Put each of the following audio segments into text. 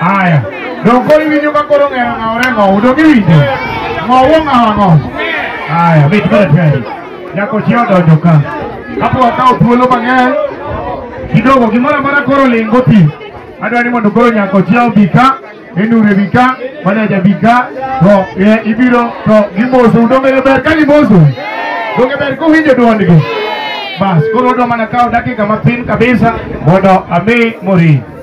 Haya. Donge iwinjo ka koro ng'era ng'awore ng'owu, donge iwinjo? Ng'owu ong'awo ang'o? Haya, mit mana tayari. Nyako chi odonjo ka. Kapo wakawo thuolo mang'eny, kidogo gimoro amora koro lingo ti. Adwa ni mondo koro nyako chi obi ka, enure bi ka, maneja bi ka, to eh, ibiro to gimosu. Donge ber ka gimosu? Donge ber kuwinjo dwondgi? Bas, koro odwa mana kawo dakika matin kabisa mondo ami mori.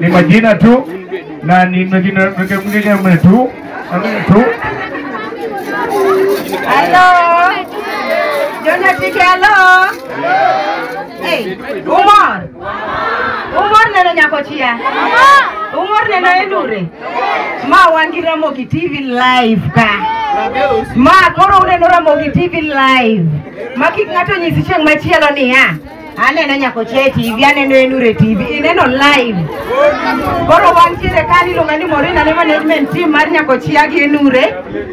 ni majina tu na ni majina mwingine mwingine tu mwingine tu Hello. Jona Tike, hello. Hey, umor. Umor neno nyako chia. Umor neno endure. Ma wan gi Ramogi TV live ka. Ma koro uneno Ramogi TV live. Ma kik ng'ato nyisi chieng' machielo niya. Aneno nyako che TV, aneno Enure TV, ineno live. Koro wan tiere ka ni iluonga ni Morina ne management team mar nyako chia gi Enure.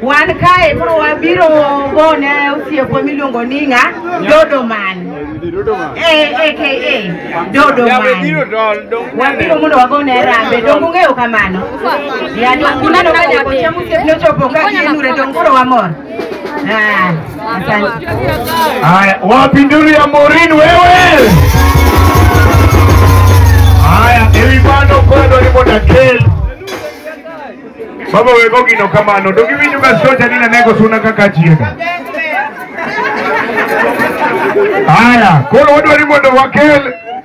Wan kae koro wabiro go ne osiepwa miluongo ni ng'a Dodo Man. Eh, AKA Dodo Man. Wabiro mondo wago ne rambe, donge ung'eyo kamano? Ya, donge uneno ka nyako chia mosiepne ochopo ka gi Enure, donge koro wamor? Ah, asante. Haya, wapi nduru ya Maureen wewe? Haya, ewi bano kwendo ni moda kel. Baba wego gino kamano, dogi winyo ka soja nina nego suna kaka chiega. Haya, koro wadwari mondo wakel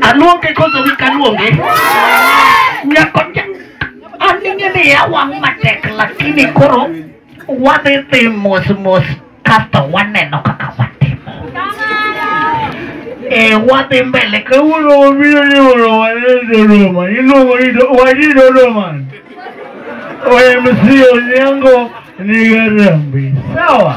Aluonge koso wik aluonge. Nyako cha. Aning'e ni awang' matek lakini koro wadhi dhi mos mos kasto waneno kaka watimo. Eh, wadhi mbele kawuono wabiro ni mondo wane Dodoma. Iluongo ni Do- waji Dodoma. OMC Onyango ni Garambi. Sawa.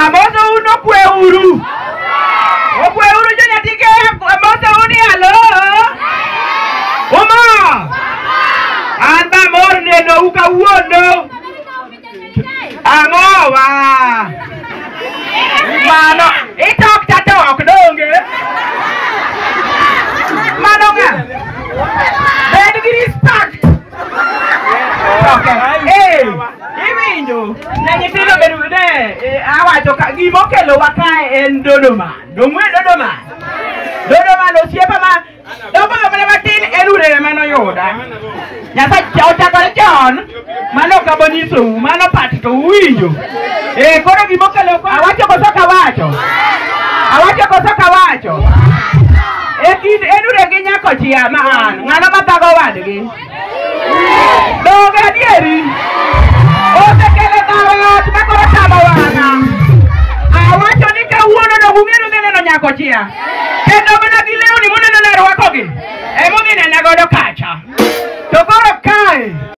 Amoso uno kwe uru. Okwe uru jo nyatike amoso uni alo. Uma. An ba mor neno u kawuono. Ang'owa. Mano itok tatok donge. Mano ng'a? Bed gi respect. Ee, iwinjo ne nyithindo bedo ne eh, awacho ka gima okelowa kae en Dodoma. Dong'we Dodoma. Dodoma no osiepa ma dogo mana matin en urere mane oyuda. Nyasaye ochakore chon mano ok abonyisou mano pat to uwinjo. Eh, koro gima okelo kwa. Awacho koso kawacho. Awacho koso kawacho. E kind Edure gi nyako chia ma an, ng'ano ma thago wadgi? Donge adieri? Osekele dhawo ot ma koro tamo wang'a. Awacho ni kawuono no ung'eyo ni neno nyako chia. Kendo mana gi lewni muneno ne rwakogi. Emomiyo inena godo kacha. To koro kae